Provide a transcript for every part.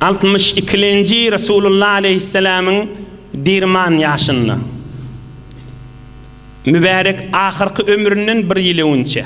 Altmyş ikilenji Resulullah aleyhisselamyň dirman ýaşynda. Mübärek ahyrky ömründen bir ýyl öňçe.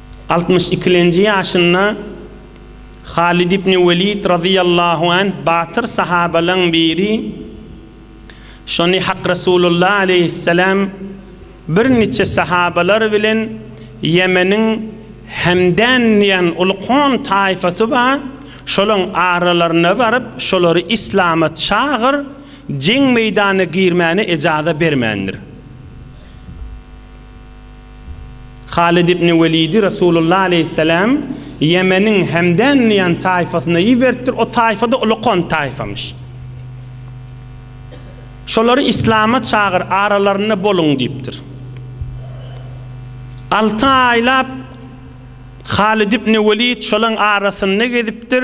Altmyş ikilenji ýaşynda Halid ibn Welid razyýallahu anh batyr sahabalaň biri şony Hak Resulullah aleýhisselam bir niçe sahabalar bilen Ýemeniň Hemdan diýen uly kom taýfasy bar şolaň aralaryna baryp şolary islama çagyr jeň meýdana girmäne ejaza bermändir. Halid ibn Welidi Resulullah aleýhissalam Ýemeniň Hemdan diýen taýfasyna iberipdir, o taýfa-da ulukon taýfamyş. Şolary islama çagyr, aralarynda boluň diýipdir. Alty aýlap Halid ibn Welid şolaň arasynda gezipdir.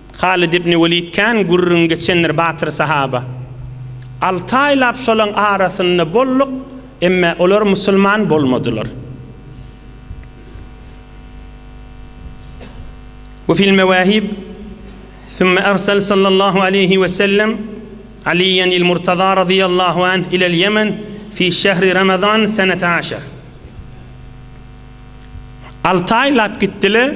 Halid ibn Welid kän gürrüň geçendir batyr sahaba. Alty aýlap şolaň arasynda bolduk, emme olar musulman bolmadylar. We fil mewahib, Thumma arsal sallallahu aleýhi we sellem Aliyyan il Murtaza radyýallahu anh ilel Ýemen fi şehri Ramazan senete aşar. Alty aýlap gitdiler.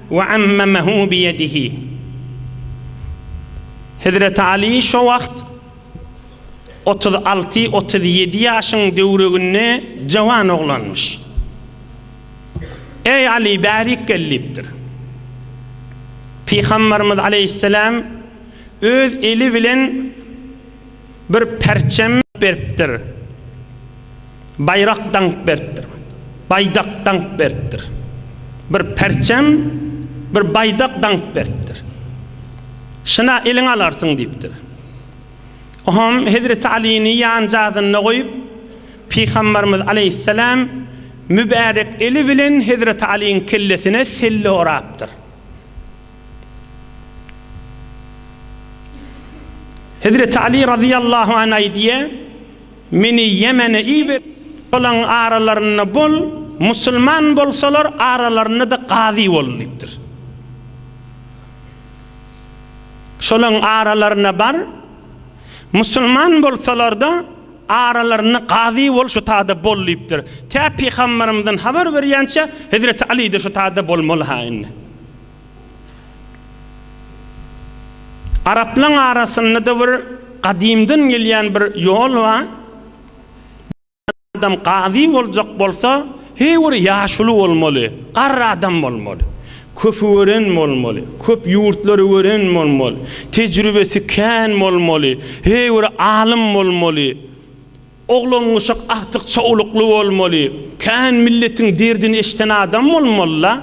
We ammamehu bi yedihi. Hezreti Aly şo wagt otuz alty, otuz ýedi ýaşyň döwreginde jawan oglanmyş. Eý Aly, bärik gel diýipdir. Pygamberimiz aleýhisselam öz eli bilen. Bir perçem beripdir. Baýrak daňyp beripdir. Baýdak daňyp beripdir. Bir perçem, bir baýdak daňyp beripdir. Şyna eliňe alarsyň diýipdir. Oňam Hezreti Alyny ýanjazynda goýup, Pygambarymyz aleýhisselam mübärek eli bilen Hezreti Alyň kellesine selle orapdyr. Hezreti Aly razyýallahu an aýdýa, Meni Ýemene iber, olaň aralarynda bol, musulman bolsalar, aralarynda-da gazy bol diýipdir. Şolaň aralaryna bar, musulman bolsalar-da, aralarynda gazy bol, şu taýda bol diýipdir. Tä Pygamberimiziň habar berýänçä, Hezreti Aly-de şu taýda bolmaly-ha indi. Araplaň arasynda-da bir gadymdan gelýän bir ýol ba. Adam gazy boljak bolsa, heý bir ýaşuly bolmaly, garry adam bolmaly. Köpi gören bolmaly, köp ýurtlary gören bolmaly, tejribesi kän bolmaly, heý bir alym bolmaly. Oglangyşak agtyk çowlukly bolmaly, kän milletiň derdini eşden adam bolmalyla.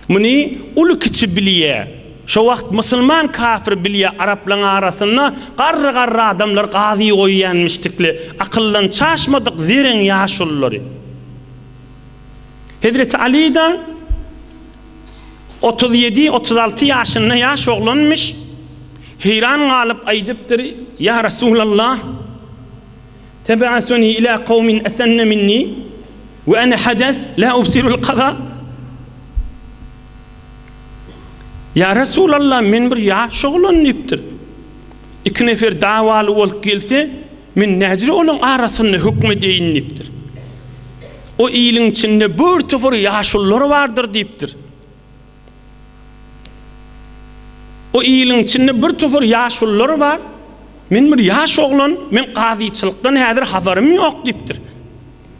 Muny uly kiçi bilýä. Şo wagt musulman kafir bilýä araplaň arasynda garry garry adamlar gazy goýýanmişdikli akyldan çaşmadyk zereň ýaşululary. Hezreti Alyda Otuz ýedi, otuz alty ýaşynda ýaş oglanmyş, heýran galyp aýdypdyr, Ýa Resulallah, teb'asuny ilâ kawmin esenne minni we ene hades lâ ubsirul kaza. Ýa Resulallah, men bir ýaş oglan diýipdir. Iki nefer dawaly bolup gelse, Men nädire olaryň arasynda höküm edeýin diýipdir. O iliň içinde bir topar ýaşulular bardyr diýipdir. O iliň içinde bir topar ýaşulular bar. Men bir ýaş oglan, men gazyçylykdan häzir habarym ýok diýipdir.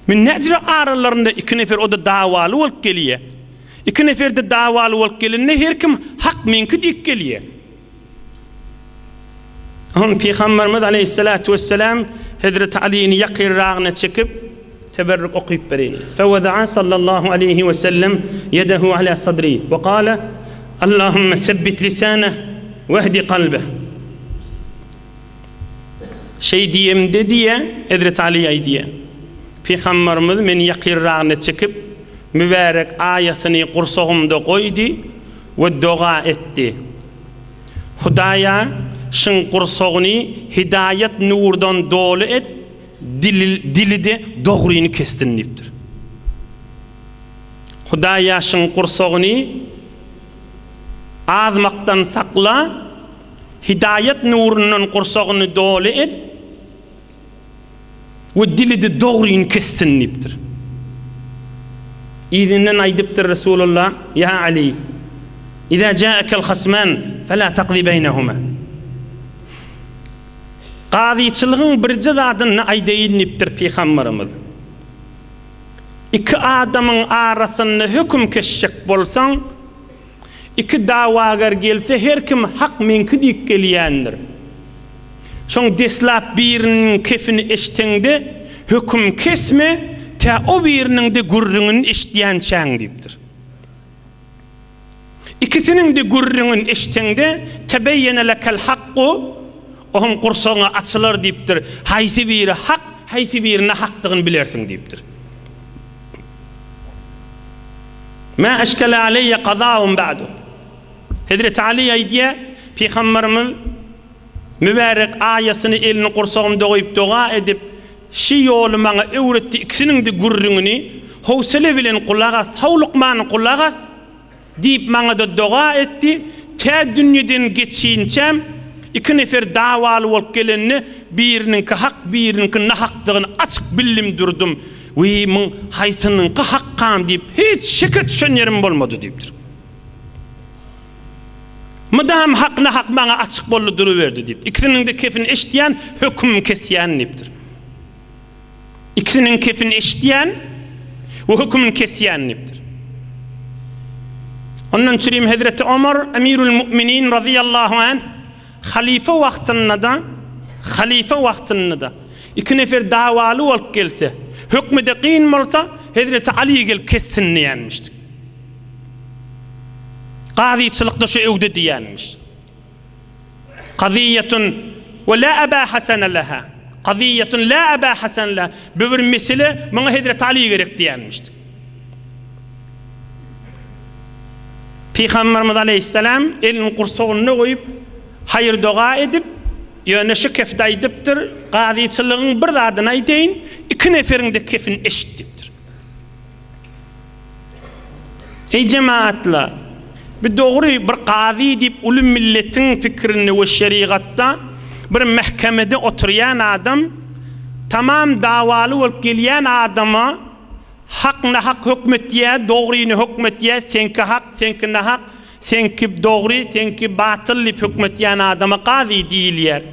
Men nädire aralarynda iki nefer o-da dawaly bolup gelýär. Iki nefer-de dawaly bolup gelende her kim hak meňki diýip gelýär. Soň Pygamberimiz aleýhissalatu wessalam Hezreti Alyny ýakyrragyna çekip, teberrük okyp bereýin. Fewedaa sallallahu aleýhi we sellem ýedehu ala sadri we gale, Allahumma sebbit lisane wehdi kalbe. Şeý diýemde diýýär, Hezreti Aly aýdýar. Pygamberimiz meni ýakyrragyna çekip, mübärek aýasyny gursagymda goýdy. We doga etdi. Hudaýa, Şyň gursagyny hidaýat nurdan doly et, dili-de dogryny kessin diýipdir. Hudaýa, Şyň gursagyny azmakdan sakla, hidaýat nurundan gursagyny doly et. we dili-de dogryny kessin diýipdir. Yzyndan aýdypdyr Resulullah, Ýa Aly, Iza ja'akel hasman fela taqzi beýnehuma. Gazyçylygyň birje zadyny aýdaýyn diýipdir Pygamberimiz. Iki adamyň arasynda höküm kesjek bolsaň, Iki dawagar gelse her kim hak meňki diýip gelýändir. Soň deslap biriniň kefini eşdeňde höküm kesme tä o biriniňde gürrüňini eşdýänçäň diýipdir. Ikisiniňde gürrüňini eşdeňde tebeýene lekel hakku oň gursagyňa açylar diýipdir. Haýsy biri hak, haýsy biri nahakdygyny bilersiň diýipdir. Mä eşkele aleýe gazahum ba'du. Hezreti Ali aýdýar, Pygamberimiz mübärek aýasyny elini gursagymda goýup doga edip, Şi ýoly maňa öwretdi, ikisiniňde gürrüňini howsele bilen gulak as, howlukman gulak as. Diýip, maňa-da doga etdi. Tä dünýeden geçinçäm, iki nefer dawaly bolup gelende, biriniňki hak, biriniňki nahakdygyny açyk bildim durdum. Wiý, muň haýsynyňky hakkam diýip, hiç şeke düşen ýerim bolmady diýipdir. Mydam hak-nahak maňa açyk boldy duruberdi diýip, ikisiniň-de kepini eşitýän, hökümim kesýän diýipdir. Ikisiniň kepini eşitýän we hökümini kesýän diýipdir. Ondan çürim Hezreti Omar Emirül Mu'minin razyýallahu anh halyfa wagtynda-da, halyfa wagtynda-da iki nefer dawaly bolup gelse, hökmi-de kyn bolsa, Hezreti Aly gelip kessin diýenmişdi. Gazyçylykda şu öwde diýenmiş. Kazyýetun we la aba hasana laha. Kazyýetun la aba hasana laha. Bu bir mesele, muňa Hezreti Aly gerek diýenmişdi. Pygamberimiz aleýhissalam elini gursagynda goýup, haýyr-doga edip, ýöne şu kefde aýdypdyr, Kazyçylygyň bir zadyny aýdaýyn, iki neferiň-de kefini eşit diýipdir. Eý jemaatla! Bu dogry bir gazy diýip uly milletiň pikirinde we şerigatda bir mähkemede oturýan adam tamam dawaly bolup gelýän adama hak nahak hökm etýä, dogryny hökm etýä, seňki hak, seňki nahak, seňki dogry, seňki batyl diýip hökm etýän adama gazy diýilýär.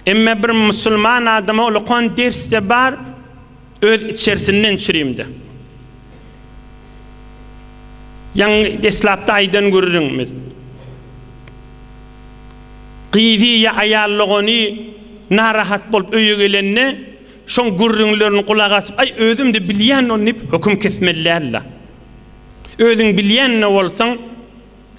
Emma bir musulman adama ulakan ders-de bar. Öz içersinden çürimde. Ýaňy deslapda aýdan gürrüňimiz. Gyzy ýa aýal dogany narahat bolup öýe gelende, şoň gürrüňlerini gulak açyp, aý özüm-de bilýän ony diýip höküm kesmeli däl-de. Özüň bilýän-de bolsaň,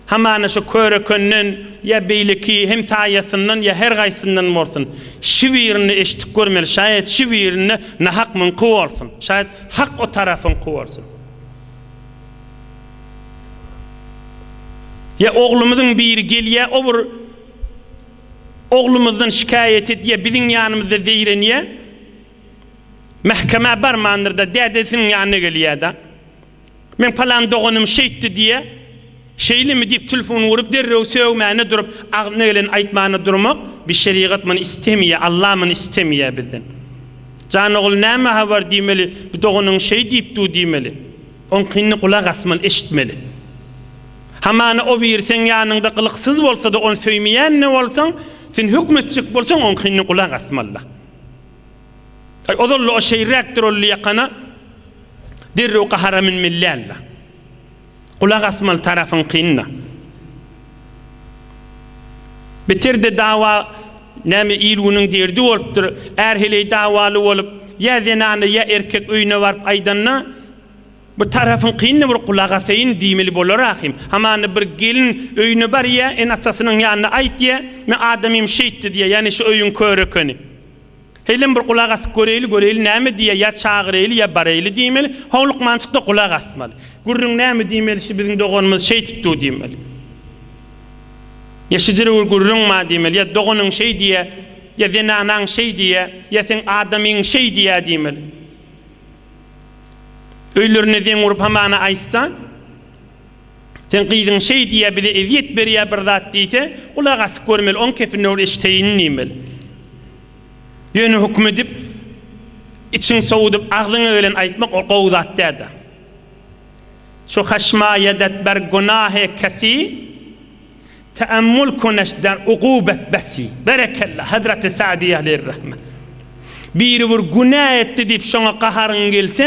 Hamana şu körekönden ýa beýleki hemtaýasyndan ýa her gaýsyndan bolsun, şi birini eşitip görmeli, şaýat şi birinde nahak muňky bolsun, şaýat hak o tarapyňky bolsun. Ýa oglumyzyň biri gelýä, o bir oglumyzdan şikaýat edýä, biziň ýanymyzda zeýrenýä, mähkemä barmandyr-da, dädesiniň ýanyna gelýä-da, Men palan doganym şeýtdi diýýä. Şeýlemi diýip tilfun urup derrew sögmäne durup agzyna geleni aýtmana durmak bi şerigat muny istemeýä Allah muny istemeýä bizden. Jan ogul näme habar diýmeli bi doganyň şeý diýip du diýmeli. Oňkyny gulak asmaly eşitmeli. Hamana o biri seň ýanyňda gylyksyz bolsada ony söýmeýänne bolsaň sen hökmetjek bolsaň oňkyny gulak asmalyda. Aý, ozal-la o şeýräkdir ol ýakana derrew gahara münmeli däl-le. Gulak asmaly tarapyň kyn-da. Beter-de dawa, näme il-günüň derdi bolupdyr. Är heleý dawaly bolup, ýa zenany, ýa erkek öýüne baryp aýdanda, bir tarapyň kyn-da bir gulak asaýyn diýmeli bolar ahym. Hamana bir gelin öýüne barýa, ene-atasynyň ýanyna aýt diýýä, Men adamym şeýtdi diýýä, ýagny şu öýüň körekeni. Heýlem bir gulak asyp göreýli, göreýli näme diýýär, ýa çagyraýly, ýa baraýly diýmeli. Soň lukmançykda gulak asmaly. Gürrüň näme diýmeli, şu biziň doganymyz şeýtip dur diýmeli. Ýa şu jire-bir gürrüň bar diýmeli, ýa doganyň şeý diýýär, ýa zenanaň şeý diýýär, ýa seň adamyň şeý diýýär diýmeli. Öýlerinde zeň urup hamana aýtsa. Seň gyzyň şeý diýýä bize ezýet berýä bir zat diýse gulak asyp görmeli oň kepine ol eşteýin diýmeli. Ýöne hukm edip içiň sowudyp agzyňa gelen aýtmak ol gowy zat dälda. Şu haşma ýadat ber gunahy kesy teammul kuneş der ugubat besi. Berekella Hazreti Sa'di Aleýhirrahme. Biri bir günä etdi diýip şoňa gaharyň gelse,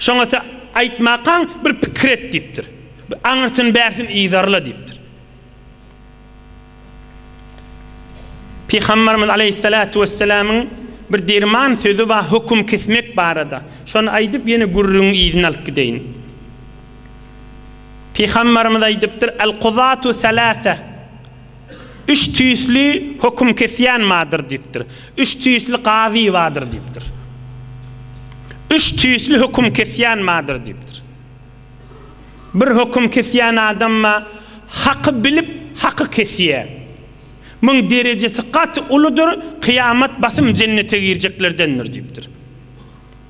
Şoňa sen aýtmakaň bir pikir et diýipdir. Bir aňyrsyny-bärsin yzarla diýipdir. Pygamberimiz aleýhissalatu wesselamyň bir derman sözi bar höküm kesmek barada. Şony aýdyp ýene gürrüňiň yzyny alyp gideýin. Pygamberimiz aýdypdyr, Al-kuzatu salasa. Üç tüýsli höküm kesýän bardyr diýipdir. Üç tüýsli gazy bardyr diýipdir. Üç tüýsli höküm kesýän bardyr diýipdir. Bir höküm kesýän adam bar, haky bilip, haky kesýär. Muň derejesi gaty uludyr, kyýamat basym jennete girjeklerdendir diýipdir.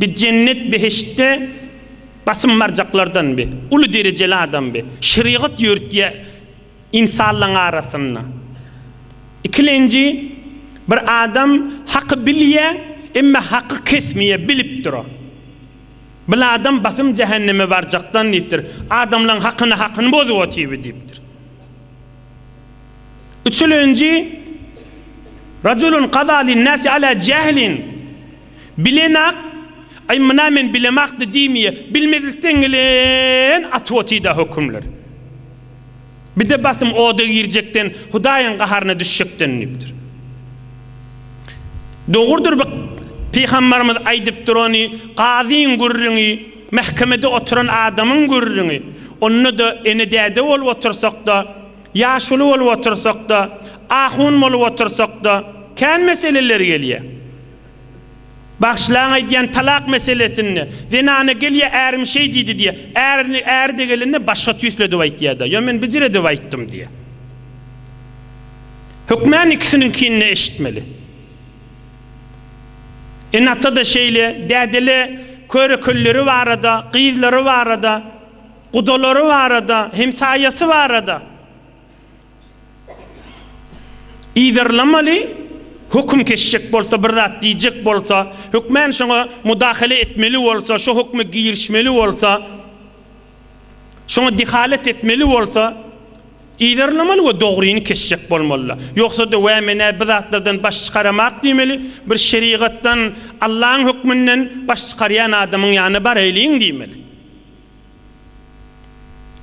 Bi jennet behiştde basym barjaklardan bi, uly derejeli adam bi, şerigat ýörütýä ynsanlaň arasynda. Ikilenji, bir adam haky bilýä, emme haky kesmýä, bilip dura. Bil adam basym jähenneme barjakdan diýipdir, adamlaň hakyna hakyny bozup otyby diýipdir. Üçülenji, Rajulun gada lin nasi ala jählin. Bilenak, Aý myna men bilemakdy diýmýä, bilmezlikden gelen atwotyda hökümler. Bide basym oda girjekden, Hudaýyň gaharyna düşjekden diýipdir. Dogrudyr bu Pygambarymyz aýdyp durany, Gazyň gürrüňi, mähkemede oturan adamyň gürrüňi, onda-da ene-däde bolup otursak-da, ýaşuly bolup otursak-da, ahun bolup otursak-da, kän meseleler gelýä. Bagşylaň aýdýan talak meselesinde, zenana gelýär, ärim şeý diýdi diýýär. Ärini, äri-de gelende başga tüýsledip aýtýar-da, ýa men bijiredip aýtdym diýýär. Hökmän ikisiniňkini-de eşitmeli. Ene-ata-da şeýle, däde-le köre-kölleri barada, gyzlary barada, gudalary barada, hemsaýasy barada. yzarlamaly, höküm kesjek bolsa, bir zat diýjek bolsa, hökmän şoňa mudahale etmeli bolsa, şo hökme girişmeli bolsa, şoňa dehalet etmeli bolsa, yzarlamaly we dogryny kesjek bolmaly-da. Ýogsa-da, Wä, men-ä bi zatlardan baş çykaramak diýmeli, bir şerigatdan, Allaň hökmünden baş çykarýan adamyň ýanyna baraýlyň diýmeli.